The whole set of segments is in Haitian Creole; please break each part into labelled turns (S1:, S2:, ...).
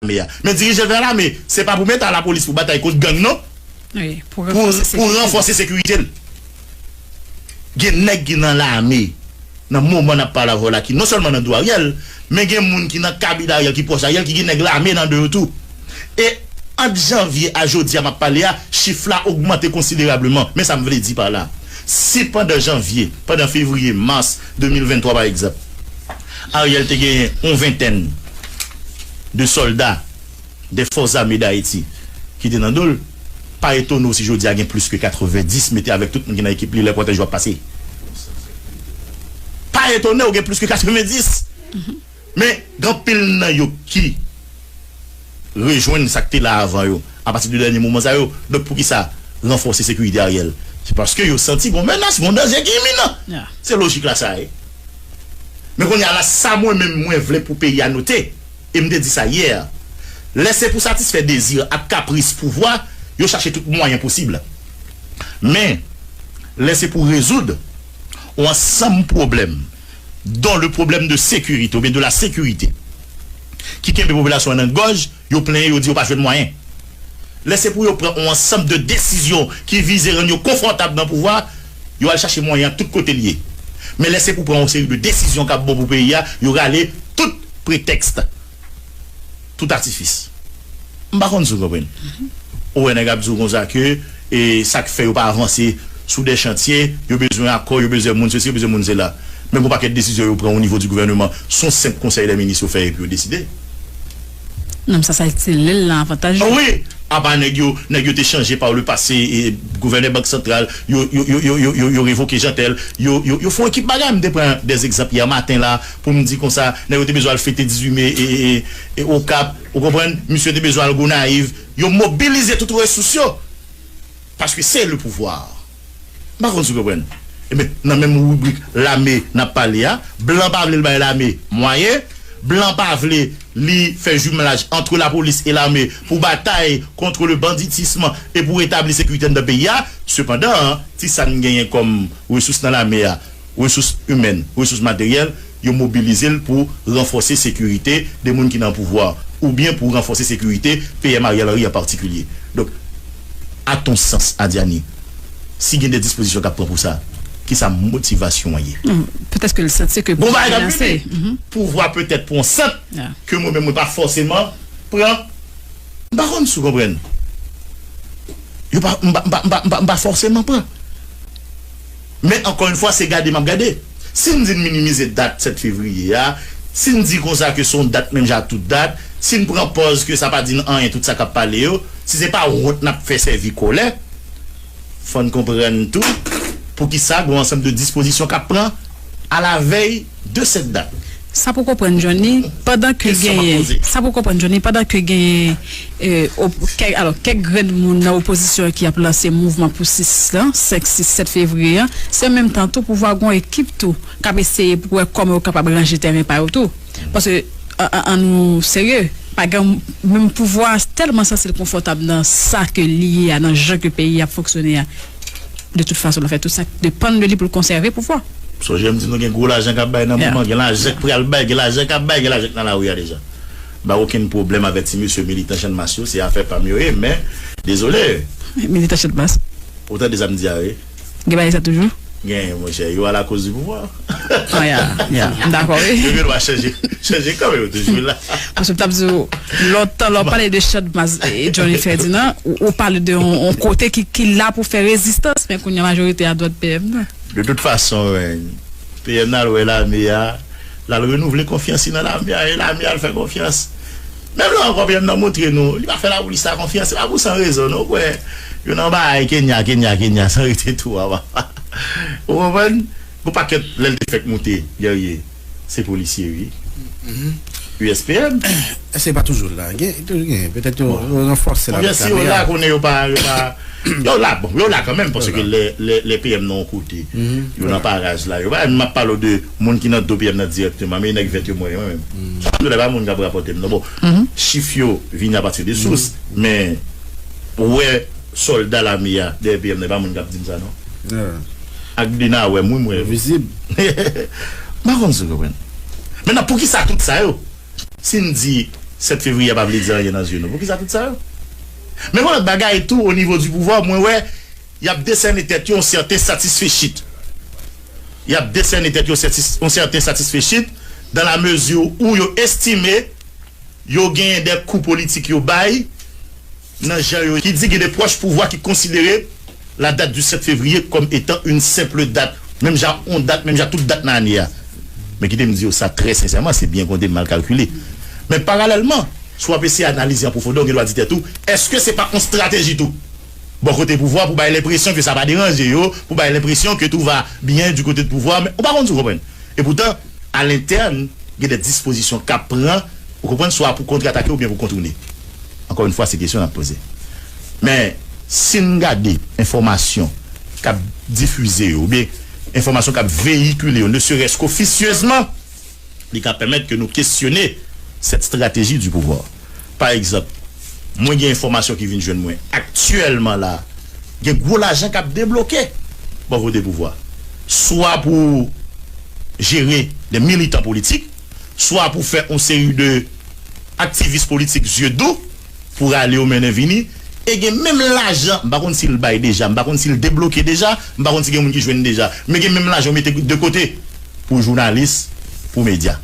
S1: lame a. Men dirije gran lame, se pa pou meta lapolis pou batay kont gang non.
S2: Pou ranfòse
S1: sekirite l. Gen nèg ki nan lame nan moman n ap pale avè w la ki non sèlman nan do Ariel, men gen moun ki nan kabin Ariel, ki pwòch Ariel, ki gen nèg lame nan do yo tou. E ant janvye a jodi a m ap pale a, chif la ogmante konsiderableman. Men sa m vle di pa la, si pandan janvye, pandan fevriye, mas 2023 pa egzanp, Ariel te genyen yon ventèn de sòlda dè fòs zame dayiti ki te nan do l, pa etone w si jodi a gen plis ke 90 mete avèk tout moun ki nan ekip li lè kòtèj yo ap pase. Pa etone w gen plis ke 90! Men gen anpil nan yo ki. rejwenn sak te la avan yo apati de dènye moman sa yo donk poukisa ranfòse sekirite Ariel se paske yo santi gon menas gon danje ki iminan se lojik la sa ye men kounye a la sa mwen menm mwen vle pou peyi a note e m te di sa yè lè se pou satisfè dezi ak kapris pouvwa yo chache tout mwayen posib men lè se pou rezoud on ansanm pwoblèm don le pwoblèm de sekirite oubyen de la sekirite. ki kenbe popilasyon an nan gòj, yo plenyen, yo di yo pa jwenn mwayen. Lè se pou yo pran yon ansanm de desizyon ki vize rann yo konfòtab nan pouvwa, yo al chache mwayen an tout kote li ye. Men lè se pou pran yon seri de desizyon k ap bon pou peyi a, yo rale tout pretèks, tout atifis. M pa konn si w konprann. Ou wè nèg ap di w konsa ke E sa k fè yo pa avanse sou dè chantye, yo bezwen akò, yo bezè moun sesi, yo bezwen moun sela. Men gon pakèt desizyon yo pran o nivo di gouvèneman, s on senp konsèy dè minis yo fè epi yo deside.
S2: Nonm sa sal ti lèl lan avantaj yo. Wi! Apa
S1: nèg yo, nèg yo te chanje pa le pase, e, gouvènè bank santral, yo, yo, yo, yo, yo, yo, yo revoke Jeantel, yo, yo, yo fè on ekip bagay. M te pran dè zekzanp yè maten la pou m di konsa, nèg yo te bezwen al fete 18 me e, e, e, e, Okap, ou konprann? Misye te bezwen al Gonayiv. Yo mobilize tout resous yo paske se le pouvoir. M pa konn si w konprann. Enben, nan menm ribrik lame n ap pale a, blan pa vle l bay lame mwayen, blan pa vle li fè jumlaj antre lapolis e lame pou batay kontre le banditisme e pou retabli sekirite anndan peyi a. Sepandan, ti sa n genyen kòm resous nan lame a, Resous imèn, resous materyèl, yo mobilize l pou ranfòse sekirite de moun ki nan pouvwa a, oubyen pou ranfòse sekirite PM Ariel Henry an patikilye. Donk, a ton sans, Adyani, si gen de dispozisyon k ap pran pou sa, ki sa motivasyon an ye? Petèske
S2: l santi ke pouvwa a gen ase.
S1: Pouvwa petèt pran yon sant ke mwen menm mwen pa fòseman pran. M pa konn si w konprann. Yo pa, m pa, m pa, m pa, m pa fòseman pran. Men ankò yn fwa se gade map gade. Si n di n minimize dat 7 fevriye a, si n di konsa ke se yon dat menm jan ak tout dat, si n pran pòz ke sa pa di n anyen tout sa kap pale yo, si se pa wont nap fè sèvi kòlè, fò n konprann tou poukisa gon ansanm de dispozisyon kap pran alavèy. 2 sèt dat. Sa pou konprann
S2: Johnny pandan ke genyen sa pou konprann Johnny pandan ke genyen kèk alò kèk grenn moun nan opozisyon an ki ap lanse mouvman pou 6 lan 5 6 7 fevriye an se an menm tan tou pouvwa gon ekip tou k ap eseye pou wè kòman yo kapab ranje tèren pa yo tou paske an nou serye pa gen menm pouvwa a tèlman santi l konfòtab nan sa ke li ye a nan jan ke peyi a ap fonksyone a. De tout fason l ap fè tout sa k depann de li pou l konsève pouvwa. Sonje m di nou gen gwo
S1: lajan k ap bay nan moman, gen lajan k pral bay, gen lajan k ap bay, gen lajan k nan lari a deja. M pa gen okenn pwoblèm avè ti mesye militan channmas yo, se afè pa m yo ye men dezole. Militan channmas.
S2: Ou tande sa m di a
S1: wi. Gen bagay sa toujou?
S2: Gen monchè, yo
S1: alakòz di pouvwa. Oh ya, ya,
S2: m dakò wi. Yo gen dwa
S1: chanje, chanje kan yo toujou la. Paske m tap di w,
S2: lòt tan lè w pale de chant baz Johnny Ferdinand, ou pale de yon kote ki la pou fè rezistans, men kounya majorite a dwat PM nan. De tout fason,
S1: PM nan al wè lame a, l al renouvle konfyans li nan lame a, e lame a al fè konfyans. Menm lè Uncle Vyan nan montre nou li pa fè lapolis la konfyans se pa pou san rezon non ou kwè yo nan baay Kenya Kenya Kenya san rete tou a papa ou konprann. Gon pakèt lèl te fèk moute Guerrier se polisye ui USPM. Èske li
S3: pa toujou la? Gen toujou gen petèt yo ranfòse l avèk kamera. Konbyen si yo la konnen
S1: yo
S3: pa
S1: yo pa yo la bon yo la kanmenm paske lè lè PM nan yon kote yo nan paraj la yo pa map pale w de Moun ki nan do PM nan dirèkteman, men nèg vèt yo mwen yo menm. Sa m di la e pa moun k ap rapòte m non. Bon, chif yo vini a pati de sous, men ou wè sòlda lame a dèyè PM nan e pa moun k ap di m sa non. Ak de nan wè m wi m wè yo. M pa konn si w konprann. Mentnan poukisa tout sa yo? Si n di 7 fevriye a pa vle di anyen nan zye nou, poukisa tout sa yo? Men yon lòt bagay tou onivo di pouvwa mwen wè Y ap desène tèt yo yon sèten satisfechit Y ap desène tèt yo yon sèten satisfechit dan la mezi ou yo estime yo genyen de kou politik yo bay nan jan yo ki di gen de pwòch pouvwa ki konsidere la date du 7 février kòm etan une simple date menm jan ak yon dat menm jan ak tout dat nan ane a Men kite m di yo sa trè sensèman, se byen konte, mal kalkile Men paralèlman, si w ap eseye analize an pwofondè ou gen dwa di tèt ou, èske se pa yon strateji tou? Bò kote pouvwa pou bay lenpresyon ke sa pa deranje yo, pou bay lenpresyon ke tou va byen di kote de pouvwa men ou pa konn si w konprann. E poutan a lentèn gen dè dispozisyon k ap pran ou konprann swa pou kontratake oubyen pou kontoune. Ankò yon fwa se kesyon n ap poze. Men si n gade enfòmasyon k ap difize yo oubyen enfòmasyon k ap veyikile yo ne serès k ofisyezman, Li ka pèmèt ke nou kesyone cette stratégie du pouvoir. Pa egzanp, mwen gen enfòmasyon ki vin jwenn mwen aktyèlman la, gen gwo lajan k ap debloke bò kote pouvwa, swa pou jere des militants politiques, swa pou fè yon seri de aktivis politik zye dou. pou rale yo mennen vini e gen menm lajan m pa konn si l bay deja m pa konn si l debloke deja m pa konn si gen moun ki jwenn deja men gen menm lajan yo mete de kote pou jounalis pou medya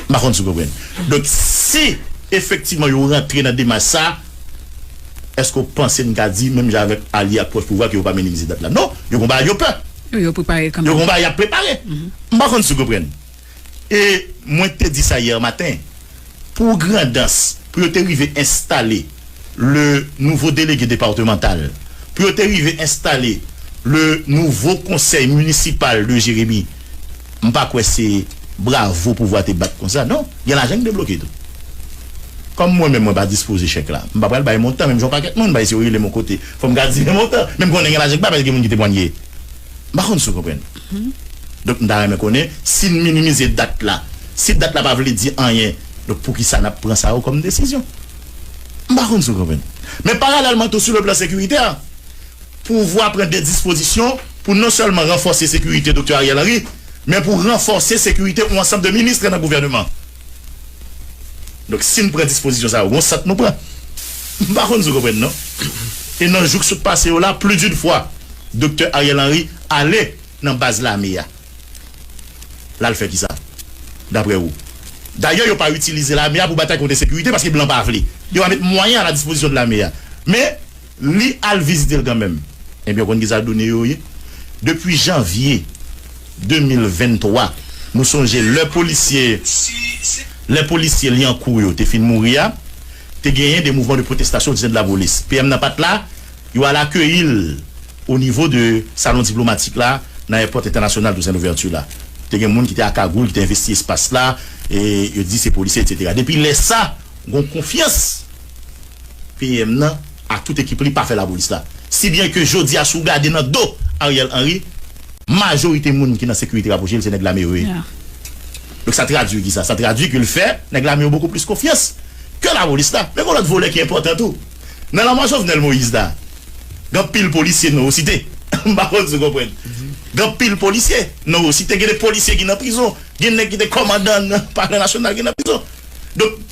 S1: m pa konn si w konprann donk si efektivman yo rantre nan demach sa èske w panse n ka di menm jan avèk alye ak pwòch pouvwa ke yo pa mennen vizit dat la non yo konba yo pè yo
S2: konba y ap prepare
S1: m pa konn si w konprann. E mwen te di sa hier matin, pou Grandans, pou yo te rive enstale le nouveau délégué départemental, pou yo te rive enstale le nouveau conseil municipal de Jérémie, m pa kwè se bravo pouvwa te bat konsa non. Gen lajan ki debloke tou. Kòm mwen menm mwen pa dispoze chèk la, m pa pral bay montan menm jan yon pakèt moun bay si yo rele m yon kote fò m ka di men montan. Men m konnen gen lajan ki pa bay paske gen moun ki temwanye. M pa konn si w konprann. Donk m ta renmen konnen si n minimize dat la, si dat la pa vle di anyen, donk poukisa n ap pran sa yo kòm desizyon? M pa konn si w konprann. Men paralèlman tou sou le plan sekiritè, pouvwa pran de dispozisyon pou non sèlman ranfòse sekirite Doktè Ariel Henry, men pou ranfòse sekirite yon ansanm de minis nan gouvèneman. Donk si n pran dispozisyon sa yo, gon sant nou pran. M pa konn si w konprann non. E nan jou k sot pase yo la, pli din fwa, Doktè Ariel Henry ale nan baz lame a. L al fè kisa, daprè ou? Dayè yo pa itilize lame a pou batay kont ensekirite paske blan pa vle. Yo va met mwayen a la dispozisyon de lame a. Men. Li al vizite l kanmenm. Ebyen w konn kisa doune yo ye? Depi janvye 2023, nou sonje lè polisye lè polisye Lyankou yo te fin mouri a, te genyen de mouvman de pwotestasyon ditent lapolis. PM nan pa t la, yo al akeyi l o nivo de salon diplomatik la nan èpòt entènasyonal Toussaint Louverture la. Te gen moun ki te a kagoul ki te envesti espas la, e yo te di se polisye, etsetera. Depi lè sa, gon konfyans. PM nan ak tout ekip li pa fè lapolis la. Si byen ke jodi a si w gade nan do Ariel Henry, majorite moun ki nan sekirite rapwoche l se nèg lame yo ye. Donk sa tradwi ki sa? Sa tradwi ke l fè nèg lame yo bokou plis konfyans ke lapolis la. Men gen yon lòt volè ki enpòtan tou. Nan lanmò Jovenel Moïse la, gen anpil polisye nou yo site. M pa konn si w konprann. Gen anpil polisye nou yo site. Gen de polisye ki nan prizon. Gen nèg ki te kòmandan nan palè nasyonal ki nan prizon. Donk.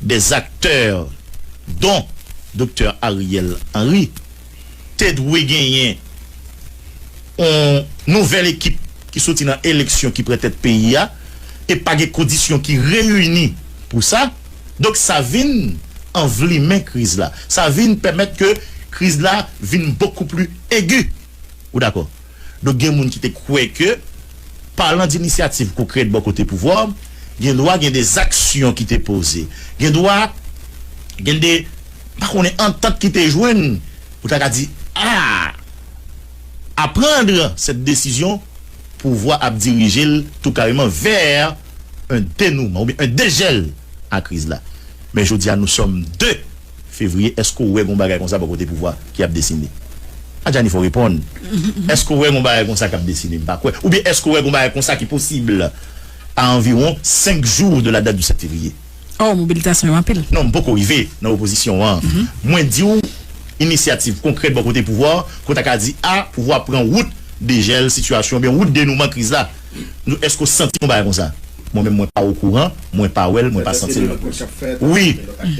S1: Des acteurs dont Doktè Ariel Henry te dwe genyen yon nouvèl ekip ki soti nan eleksyon ki pran tèt peyi a e pa gen kondisyon ki reyini pou sa. Donk sa vin anvlimen kriz la. Sa vin pèmèt ke kriz la vin beaucoup plus aigu. Ou dakò? Donk gen moun ki te kwè ke palan d'initiative konkrèt bò kote pouvwa, gen dwa gen de zaksyon ki te poze. Gen dwa gen de, m pa konnen, antant ki te jwenn pou ta ka di, a! A prendre cette décision, pouvwa ap dirije l tou kareman vè un denouement oubyen un dejèl a kriz la. Men jodi a nou sòm 2. Fevrier èske w wè gon bagay konsa bò kote pouvwa ki ap desine? Adjani fò w reponn. Èske w wè gon bagay konsa k ap desine? M pa kwè. Oubyen èske w wè gon bagay konsa ki posib a anviwon 5 jou de la date du 7 février? Oh mobilitasyon
S2: yo anpil. Non m poko rive nan
S1: opozisyon an. Mwen di w inisyativ konkrèt bò kote pouvwa ke w ta ka di a pouvwa pran wout dejèl sitiyasyon oubyen wout denouman kriz la. Nou eske ou santi yon bagay konsa? Mwen menm mwen pa okouran, mwen pa wèl, mwen pa santil non plis. Wi,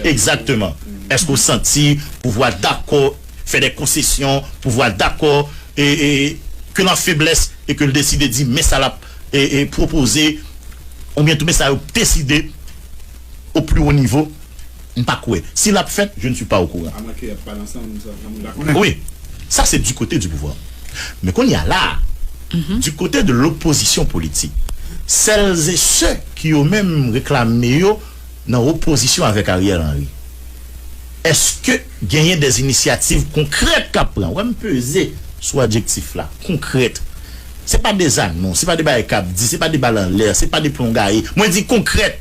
S1: egzakteman. Eske ou santi pouvwa dakò fè de konsesyon, pouvwa dakò e e ke l an feblès e ke l deside di men sa l ap e e pwopoze oubyen tou men sa yo deside au plus haut niveau m pa kwè si lap fèt je ne suis pas au courant. A mwen ke yap pale ansanm m sa mwen pa konnen. Wi sa se du kote du pouvwa men kounye a la du kote de l'opposition politik celles et ceux ki yo menm reklame yo nan opozisyon avèk Ariel Henry eske genyen des initiatives konkrèt kap pran wè m peze sou adjektif la konkrèt se pa des annons se pa de bagay kap di se pa de bal anlè se pa de plon gaye mwen di konkrèt.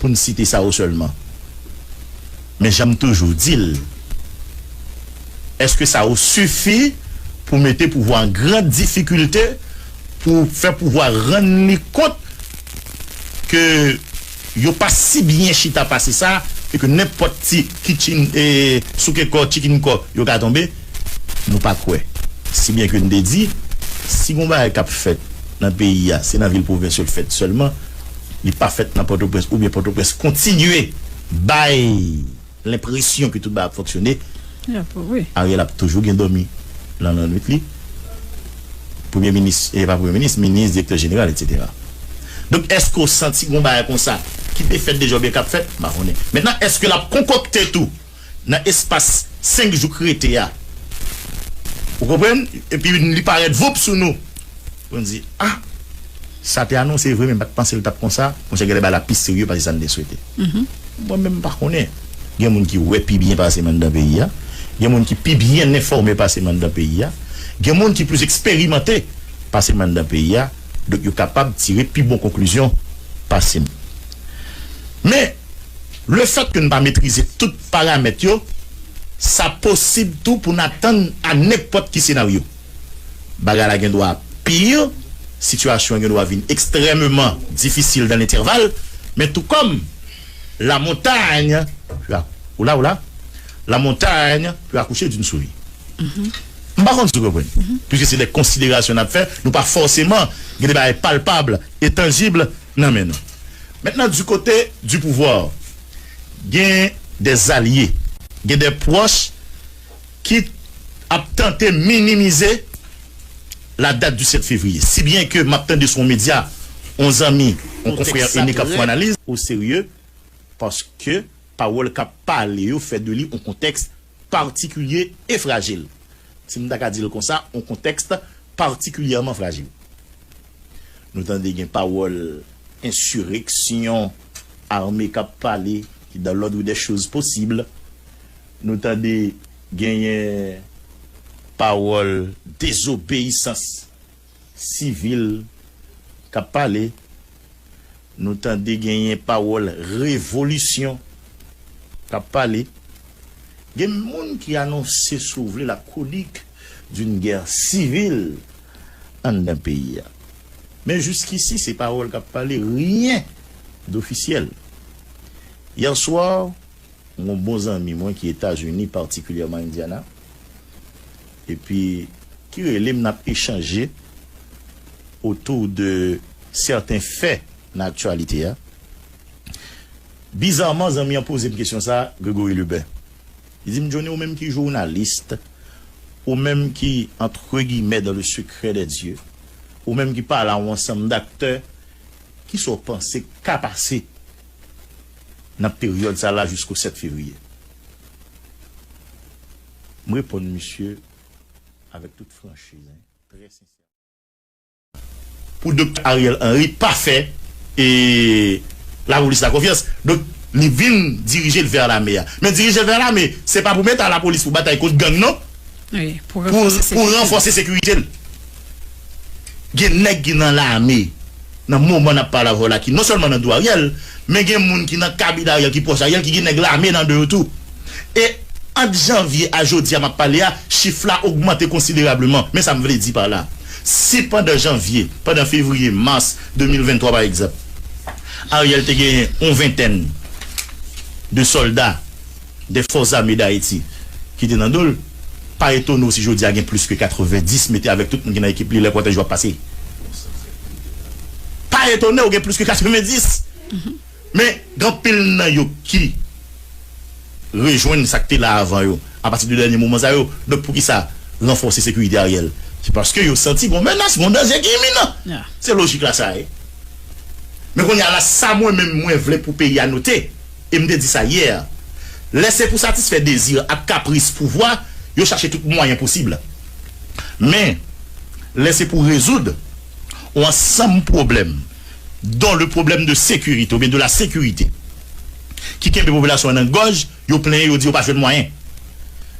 S1: pou n site sa yo sèlman. Men jan m toujou di l, èske sa yo sifi pou mete pouvwa an gran difikilte, pou fè pouvwa rann li kont ke yo pa si byen chita pase sa e ke nenpòt ti kitchin e souke kò, chicken kò yo ka tonbe? Nou pa kwè. Si byen ke n te di, si gon bagay k ap fèt nan peyi a, se nan vil pwovens yo fèt sèlman. li pa fèt nan Pòtoprens oubyen Pòtoprens kontinye bay lenpresyon ke tout bagay ap fonksyone,
S2: Ariel ap toujou gen
S1: dòmi nan lannwit li, Premye Minis, e pa Premye Minis, Minis, Direktè Jeneral, etsetera. Donk, èske w santi gen yon bagay konsa ki te fèt deja oubyen k ap fèt? M pa konnen. Mentnan, èske l ap konkokte tou? nan espas 5 jou k rete a ou konprann epi li parèt voup sou nou nou di ah sa te anonse vre men m pat panse l tap konsa monchè gèlè bagay la pi serye pase sa n te swete mwen menm m pa konnen gen moun ki wè pi byen pase m anndan peyi a gen moun ki pi byen enfòme pase m anndan peyi a gen moun ki plis eksperimante pase m anndan peyi a donk yo kapab tire pi bon konklizyon pase m men. Le fèt ke n pa metrize tout paramèt yo, sa posib tou pou n atann a nenpòt ki senaryo. Bagay la gen dwa pir, sitiyasyon an gen dwa vin ekstrèmeman difisil dan lenterval, men tou kòm la montagne peut a Oula oula La montagne peut accoucher d'une souris. M pa konn si w konprann. Piske se de konsiderasyon n ap fè, nou pa fòseman gen de bagay palpab e tanjib. nan men nou. Maintenant du côté du pouvoir gen des zalye, gen des proches ki ap tante minimize la date du 7 février. Si byen ke map tande sou yon medya, yon zanmi, yon konfrè ene kap fè yon analiz. Au sérieux paske pawòl kap pale yo fè de li yon kontèks Patikilye e frajil, si m ta ka di l konsa, yon kontèks patikilyèman frajil. Nou tande gen pawòl ensireksyon, ame k ap pale, ki dan lòdre dè choz posib. Nou tande genyen pawòl dezobeyisans. Sivil kap pale nou tande genyen pawòl revolisyon kap pale gen moun ki anonse si w vle la chronique d'une guerre civile anndan peyi a men jiskisi se pawòl kap pale ryen dofisyèl yèswa M gon bon zanmi mwen ki etazini patikilyèman indiana epi. Ki rele m nap echanje autour de certains faits nan aktyalite a. Bizarman zanmi an poze m kesyon sa Gregory Lubin. Li di m Johnny ou menm ki journaliste, ou menm ki entre guillemets dans le secret des dieux, ou menm ki pale a yon ansanm daktè, kisa w panse k ka pase? nan peryòd sa la jisko 7 fevriye? M reponn misye avèk tout franchiz hein, trè sensèman. Pou Doktè Ariel Henry pa fè lapolis la konfyans, donk li vin dirije l vè lame a. Men dirije l vè lame, se pa pou mete a lapolis pou batay kont gang non,
S2: pou ranfòse
S1: sekirite l. Gen nèg ki nan lame nan moman nap pale avèw la ki non sèlman nan do Ariel men gen moun ki nan kabine Ariel ki pwòch Ariel ki gen nèg lame nan de yo tou e ant janvye a jodia map pale a chif la ogmante konsiderableman men sam vle di pa la si pandan janvye pandan fevriye mars 2023 pa egzanp Ariel te genyen yon ventèn de sòlda. dè fòs zame Dayiti ki te nan do l, pa etone w si jodi a gen plis ke 90 mete avèk tout moun ki nan ekip li lè kòtèj yo ap pase. Pa etone w gen plis ke 90! Men, gen anpil nan yo ki rejwenn sa k te la avan yo apati de dènye moman sa yo. Donk, pou ki sa ranfòse sekirite Ariel? Se paske yo santi gon menas, gon danje ki iminan. Se lojik la sa ye. Men kounye a la, sa mwen menm mwen vle pou peyi a note, E m te di sa yè. Lè se pou satisfè dezi ak kapris pouvwa, yo chache tout mwayen posib. Men, lè se pou rezoud on ansanm pwoblèm, don le problème de sécurité oubyen de la sécurité, ki kenbe popilasyon an nan gòj, yo plenyen, yo di yo pa jwenn mwayen.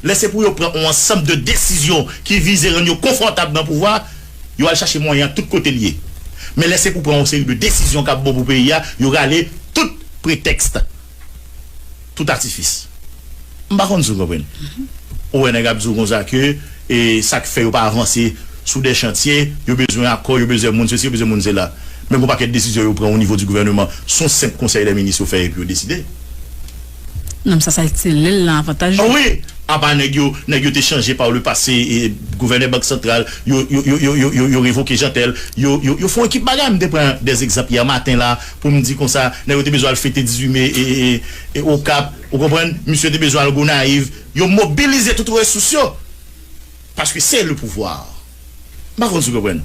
S1: Lè se pou yo pran on ansanm de desizyon ki vize rann yo konfòtab nan pouvwa, Yo al chache mwayen an tout kote l ye. Men lè se pou pran yon seri de desizyon k ap bon pou peyi a, yo rale tout pretèks, tout atifis. M pa konn si w konprann. Ou wè nèg ap di w konsa ke sa k fè yo pa avanse sou de chantye, yo bezwen akò, yo bezwen moun sesi, yo bezwen moun sela. Men gen yon pakèt desizyon yo pran onivo di gouvèneman, s on senp konsèy dè minis yo fè epi yo deside.
S2: Nonm sa sa itil li l lan avantaj li. Wi, apa
S1: nèg yo nèg yo te chanje par le passé gouvènè bank santral yo yo yo yo yo yo revoke Jeantel yo yo yo fon ekip bagay m te pran des egzanp hier matin la pou m di konsa nèg yo te bezwen al fete 18 mai ee okap ou konprann misye te bezwen al gonayiv yo mobilize tout resous yo paske se le pouvoir m pa konn si w konprann.